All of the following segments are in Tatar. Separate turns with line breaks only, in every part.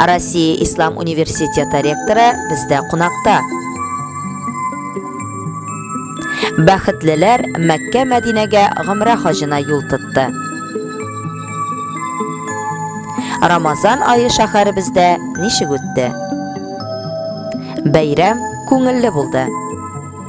Россия Ислам университеты ректоры бездә кунакта. Бәхетлеләр Мәккә Мәдинәгә гомрә хаҗына юл тотты. Рамазан айы шәһәребездә ничек үтте? Бәйрәм күңелле булды.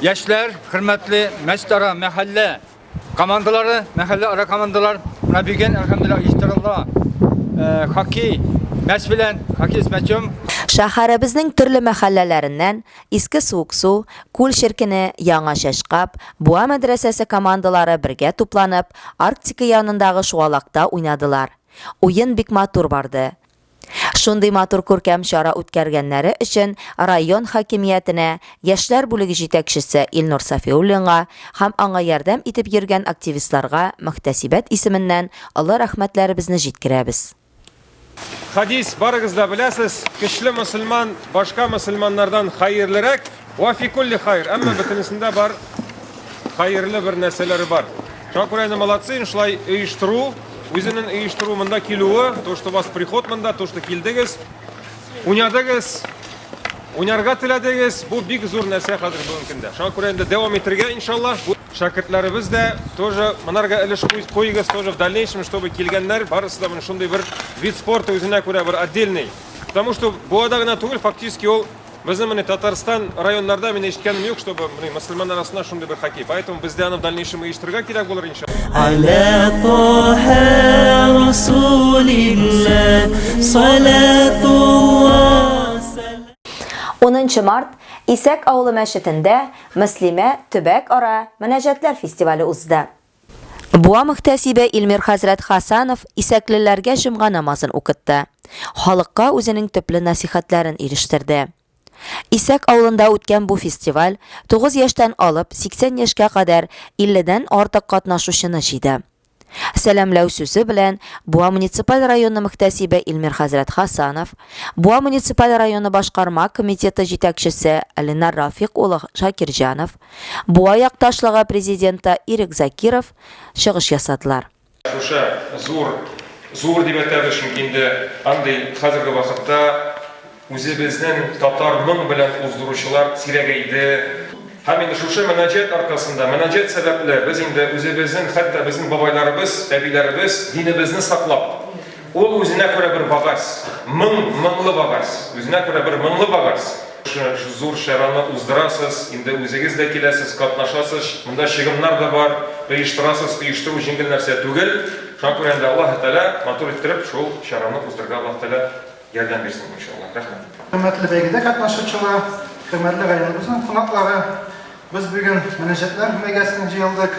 Яшьләр,
хөрмәтле мәчтара мәхәллә командалары, мәхәллә ара командалар, менә бүген әлхәмдулилла иҗтиралла э, хоккей мәч белән, хоккей с мячом Шәһәребезнең
төрле мәхәлләләреннән Иске Суыксу, Күл Черкене, Яңа Чәчкап, Буа мәдрәсәсе командалары бергә тупланып, Арктика янындагы шуалакта уйнадылар. Уен бик матур барды. Шундый матур күркәм чара үткәргәннәре өчен район хакимиятенә, яшьләр бүлеге җитәкчесе Илнур Сафиуллинга һәм аңа ярдәм итеп йөргән активистларга мөхтәсибәт исеменнән олы рәхмәтләребезне җиткерәбез.
Хәдис, барыгыз да беләсез, Көчле мөселман башка мөселманнардан хәерлерәк. Ва фи кулли хайр, әмма бөтенесендә бар хайырлы бер нәрсәләре бар. Шуңа күрә инде молодцы, шулай оештыру, үзенең оештыру монда килүе, то, что у вас приход монда, то, что килдегез, уйнадыгыз, уйнарга теләдегез, бу бик зур нәрсә хәзер бүгенге көндә. Шуңа күрә инде дәвам итәргә, иншалла. Шәкертләребез дә тоже монарга өлеш куйыгыз, тоже в дальнейшем, чтобы килгәннәр барысы да моны шундый бер вид спорта үзенә күрә бер отдельный. Потому что буада гына түгел, фактически ул Безнең менә Татарстан районнарда мин ишеткәнем юк, чтобы менә мусульман арасында шундый бер хоккей. Поэтому бездә аны в дальнейшем оештырырга кирәк булыр иншалла. Аля
Таха Расулилла Салатулла
Унынчы март Исәк авылы мәчетендә Мөслимә төбәк ара мөнәҗәтләр фестивале узды. Буа мөхтәсибе Илмир хәзрәт Хасанов исәклеләргә җомга намазын укытты, халыкка үзенең төпле насыйхәтләрен ирештерде. Исәк авылында үткән бу фестиваль 9 яшьтән алып 80 яшькә кадәр 50 дән артык катнашучыны җыйды. Сәламләү сүзе белән Буа муниципаль районы мөхтәсибе Илмир хәзрәт Хасанов, Буа муниципаль районы башкарма комитеты җитәкчесе Ленар Рафыйк улы Шакирҗанов, Буа якташлыгы президенты Ирек Закиров чыгыш ясадылар. Шушы
зур, зур дип әйтәбез, чөнки инде андый хәзерге вакытта үзебезнең татар моң белән уздыручылар сирәгәйде. Һәм инде шушы мөнаҗәт аркасында, мөнаҗәт сәбәпле без инде үзебезнең, хәтта безнең бабайларыбыз, әбиләребез динебезне саклап, Ул үзенә күрә бер багаз, моң, моңлы багаз, үзенә күрә бер моңлы багаз. Зур чараны уздырасыз, инде үзегез дә киләсез, катнашасыз, монда чыгымнар да бар, оештырасыз, оештыру җиңел нәрсә түгел. Шуңа күрә инде Аллаһы Тәгалә матур иттереп шул чараны уздырырга Аллаһы Тәгалә ярдәм бирсен, иншаллаһ. Рәхмәт. Хөрмәтле бәйгедә
катнашучылар, хөрмәтле районыбызның кунаклары, без бүген мөнәҗәтләр бәйгәсенә җыелдык.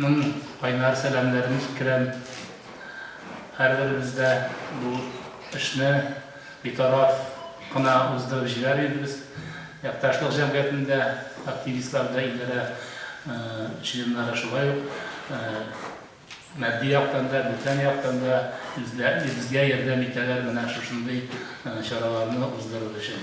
Ның кайнар сәламнәрен җиткерәм. Һәрберебез дә бу эшне битараф кына уздырып җибәрмибез. Якташлык җәмгыятендә активистлар да, идарә членнары шулай ук матди яктан да, бүтән яктан да үзләребезгә ярдәм итәләр менә шушындый чараларны уздырыр өчен.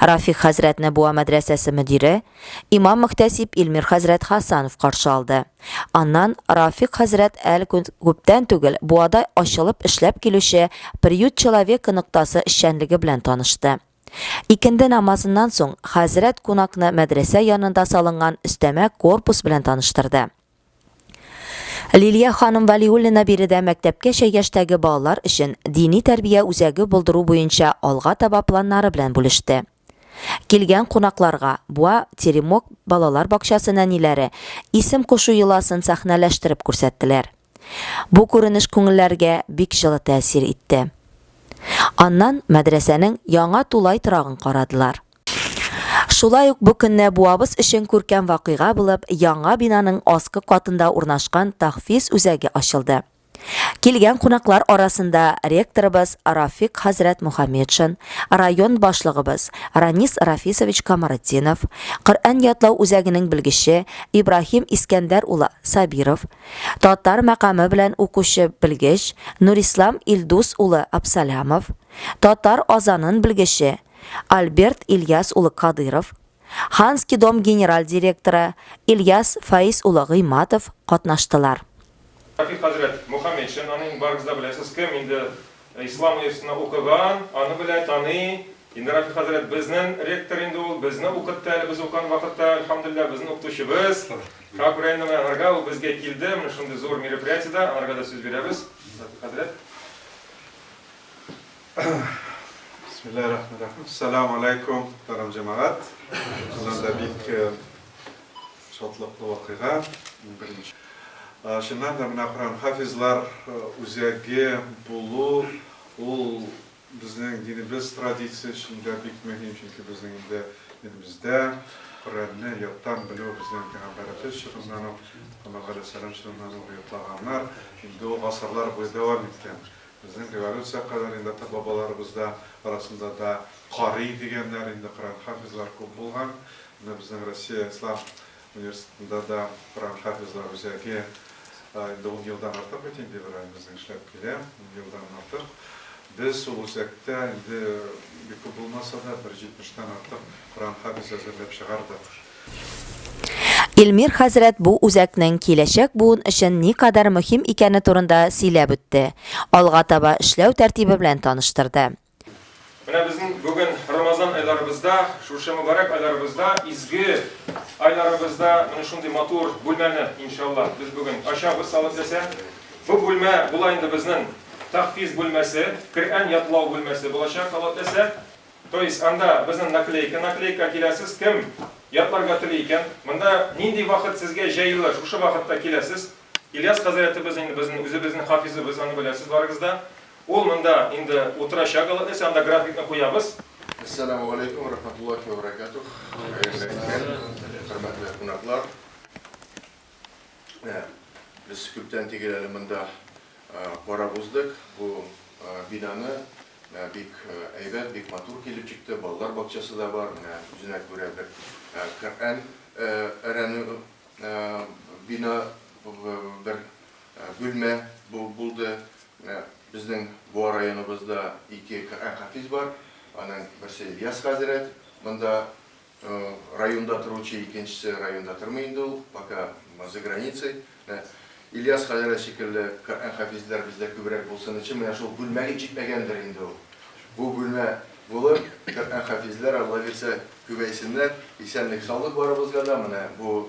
Рафик хәзрәтне Буа мәдрәсәсе мөдире, имам-мөхтәсиб Илмир хәзрәт Хасанов каршы алды. Аннан Рафик хәзрәт әл күптән түгел Буада ачылып эшләп килүче Приют человека ноктасы эшчәнлеге белән танышты. Икенде намазыннан соң хәзрәт кунакны мәдрәсә янында салынган өстәмә корпус белән таныштырды. Лилия ханым Валиуллина биредә мәктәпкәчә яшьтәге балалар өчен дини тәрбия үзәге булдыру буенча алга таба планнары белән бүлеште. Килгән кунакларга Буа Теремок балалар бакчасы нәниләре исем кушу йоласын сәхнәләштереп күрсәттеләр. Бу күренеш күңелләргә бик җылы тәэсир итте. Аннан мәдрәсәнең яңа тулай торагын карадылар. Шулай ук бу көнне буабыз өчен күркәм вакыйга булып, яңа бинаның аскы катында урнашкан Тахфиз үзәге ачылды. Килгән кунаклар арасында ректорыбыз Рафик хәзрәт Мухаметшин, район башлыгыбыз Ранис Рафисович Камаретдинов, Коръән ятлау үзәгенең белгече Ибраһим Искәндәр улы Сабиров, татар мәкаме белән укучы белгеч Нурислам Илдус улы Абсалямов, татар азанын белгече Альберт Ильяс улы Кадыйров, Ханский дом генераль директоры Ильяс Фаиз улы Гыйматов катнаштылар. Рәфикъ
хәзрәт Мухаметшин, аны инде барыгыз да беләсез, кем инде Ислам университетында укыган, аны белә, таный. Инде Рәфикъ хәзрәт безнен ректор инде ул, безне укытты әле без укыган вакытта, әлхәмдүлилләһ, безнен укытучыбыз. Как районның аңарга ул безгә килде, менә шундый зур мероприятиедә, аңарга да сүз бирәбез, Рәфикъ хәзрәт.
Бисмиллахи рахмани рахим. Салам алейкум, тарам җәмәгать. Шуннан да бик э, шатлыклы вакыйга. Беренче. Э, Шуннан да менә Коран хафизлар э, үзәге булу ул безнең динебез традиция эчендә бик мөһим, чөнки безнең инде динебездә Коръәнне яттан белү безнең пәйгамбәребез чорыннан ук, Мөхәммәд галәйһиссәлам чорыннан ук йотлаганнар. Инде ул гасырлар буе дәвам иткән. Безнең революция кадәр инде ата-бабаларыбыз да арасында да карый дигәннәр, инде Коръән хафизлар күп булган. Менә безнең Россия Ислам университетында да Коръән хафизлар үзәге инде ун елдан артык бит инде Ибраһим безнең эшләп килә, ун елдан артык. Без ул үзәктә инде бик күп булмаса да, бер җитмештән артык Коръән хафизы әзерләп чыгардык. Илмир
хәзрәт бу үзәкнең киләчәк буын өчен никадәр мөһим икәне турында сөйләп үтте, алга таба эшләү тәртибе белән таныштырды. Менә
безнең бүген Рамазан айларыбызда, шушы мөбарәк айларыбызда, изге айларыбызда менә шундый матур бүлмәне, иншаллаһ, без бүген ачабыз, Алла теләсә. Бу бүлмә була инде безнең тәхфиз бүлмәсе, Коръән ятлау бүлмәсе булачак, Алла теләсә. То есть анда безнең наклейка, наклейка киләсез, кем ятларга тели икән, монда нинди вакыт сезгә җәелә, шушы вакытта киләсез. Ильяс хәзрәтебез инде безнең үзебезнең хафизыбыз, аны беләсез барыгыз да. Ул монда инде утырачак, алла теләсә, анда графикны куябыз. Әссәламү
галәйкүм вә рахмәтуллаһи вә бәрәкәтүһ. Хәерле көн, хөрмәтле кунаклар. Менә без күптән тигел әле монда карап уздык, бу бинаны Бик әйбәт, бик матур килеп чыкты, балалар бакчасы да бар, менә үзенә күрә бер Коръән әрәнү бина, бер бүлмә булды. Безнең Буа районыбызда ике Коръән хафиз бар, аның берсе Ильяс хәзрәт монда Районда торучы икенчесе районда тормый инде ул, пока за границей. Менә Ильяс хәзрәт шикелле Коръән хафизләр бездә күбрәк булсын өчен, менә шул бүлмәгә җитмәгәндер инде ул. Бу бүлмә булыр, Коръән хафизләр, Алла бирсә, күбәйсеннәр. Исәнлек-саулык барыбызга да, менә бу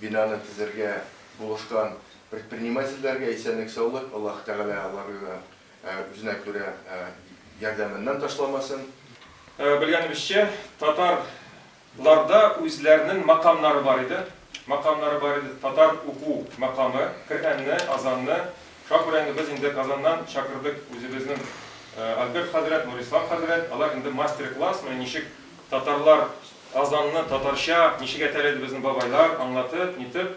бинаны төзергә булышкан предпринимательләргә исәнлек-саулык, Аллаһы Тәгалә аларга да Үзенә күрә ярдәменнән ташламасын. Белгәнебезчә,
татар ларда үзләренең макамнары бар иде. Макамнары бар иде. Татар уку макамы, Коръәнне, азанны. Шуңа күрә инде без инде Казаннан чакырдык үзебезнең Альберт хәзрәт, Нурислам хәзрәт. Алар инде мастер-класс, менә ничек татарлар азанны татарча, ничек әйтәләр иде безнең бабайлар, аңлатып, нитеп.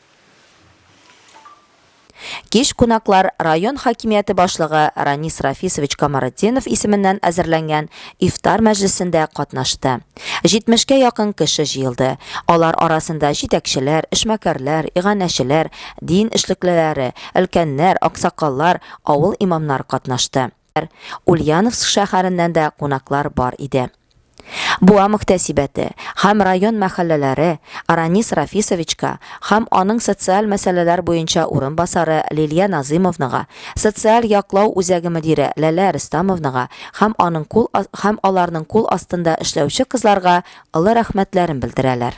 Кич кунаклар район хакимияте башлыгы Ранис Рафисович Камаретдинов исеменнән әзерләнгән ифтар мәҗлесендә катнашты. 70 кә якын кеше җыелды. Алар арасында җитәкчеләр, эшмәкәрләр, иганәчеләр, дин эшлеклеләре, өлкәннәр, аксакаллар, авыл имамнары катнашты. Ульяновск шәһәреннән дә кунаклар бар иде. Буа мөхтәсибәте һәм район мәхәлләләре Ранис Рафисовичка һәм аның социаль мәсьәләләр буенча урынбасары Лилия Назымовнага, социаль яклау үзәге мөдире Ләлә Рөстәмовнага һәм аның кул һәм аларның кул астында эшләүче кызларга олы рәхмәтләрен белдерәләр.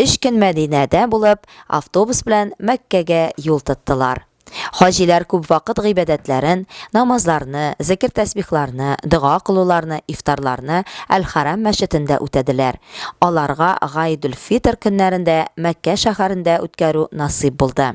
Өч көн Мәдинәдә булып, автобус белән Мәккәгә юл тоттылар. Хаҗиләр күп вакыт гыйбадәтләрен, намазларны, зекер-тәсбихларны, дога кылуларны, ифтарларны Әл-Хәрам мәчетендә үтәделәр. Аларга Гайдүл-Фитр көннәрен дә Мәккә шәһәрендә үткәрү насыйп булды.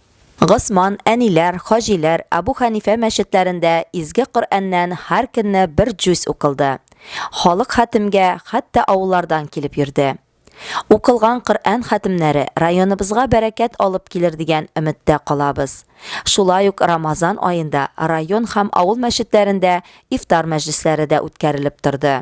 Госман, Әниләр, Хаҗиләр, Әбу Хәнифә мәчетләрендә Изге Коръәннән һәр көнне бер җүз укылды. Халык хәтемгә хәтта авыллардан килеп йөрде. Укылган Коръән хәтемнәре районыбызга бәрәкәт алып килер дигән өметтә калабыз. Шулай ук Рамазан аенда район һәм авыл мәчетләрендә ифтар мәҗлесләре дә үткәрелеп торды.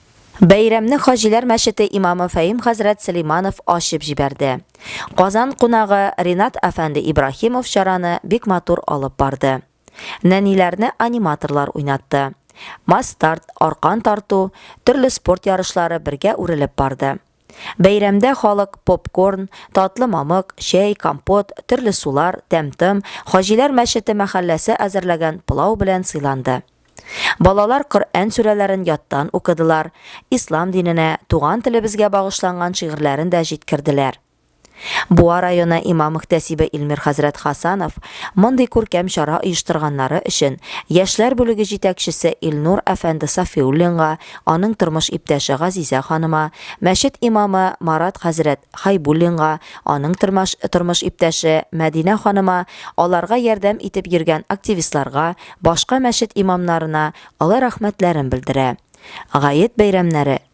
Бәйрәмне Хаҗиләр мәчете имамы Фәим хәзрәт Сөләйманов ачып җибәрде. Казан кунагы Ринат әфәнде Ибраһимов чараны бик матур алып барды. Нәниләрне аниматорлар уйнатты. Масс-старт, аркан тарту, төрле спорт ярышлары бергә үрелеп барды. Бәйрәмдә халык попкорн, татлы мамык, чәй, компот, төрле сулар, тәм-том, Хаҗиләр мәчете мәхәлләсе әзерләгән пылау белән сыйланды. Балалар Коръән сүрәләрен яттан укыдылар, ислам диненә, туган телебезгә багышланган шигырьләрен дә җиткерделәр. Буа районы имам-мөхтәсибе Илмир хәзрәт Хасанов мондый күркәм чара оештырганнары өчен яшьләр бүлеге җитәкчесе Илнур әфәнде Сафиуллинга, аның тормыш иптәше Газизә ханыма, мәчет имамы Марат хәзрәт Хәйбуллинга, аның тормыш иптәше Мәдинә ханыма, аларга ярдәм итеп йөргән активистларга, башка мәчет имамнарына олы рәхмәтләрен белдерә. Гает бәйрәмнәре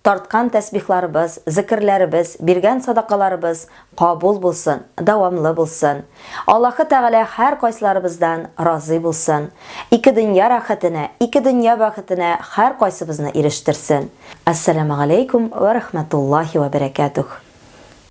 Тарткан тәсбихларыбыз, зекерләребез, биргән садакаларыбыз кабул булсын, дәвамлы булсын. Аллаһы Тәгалә һәркайсыларыбыздан разый булсын. Ике дөнья рәхәтенә, ике дөнья бәхетенә һәркайсыбызны ирештерсен. Әссәламегаләйкүм вә рәхмәтуллаһи вә бәрәкәтүһ.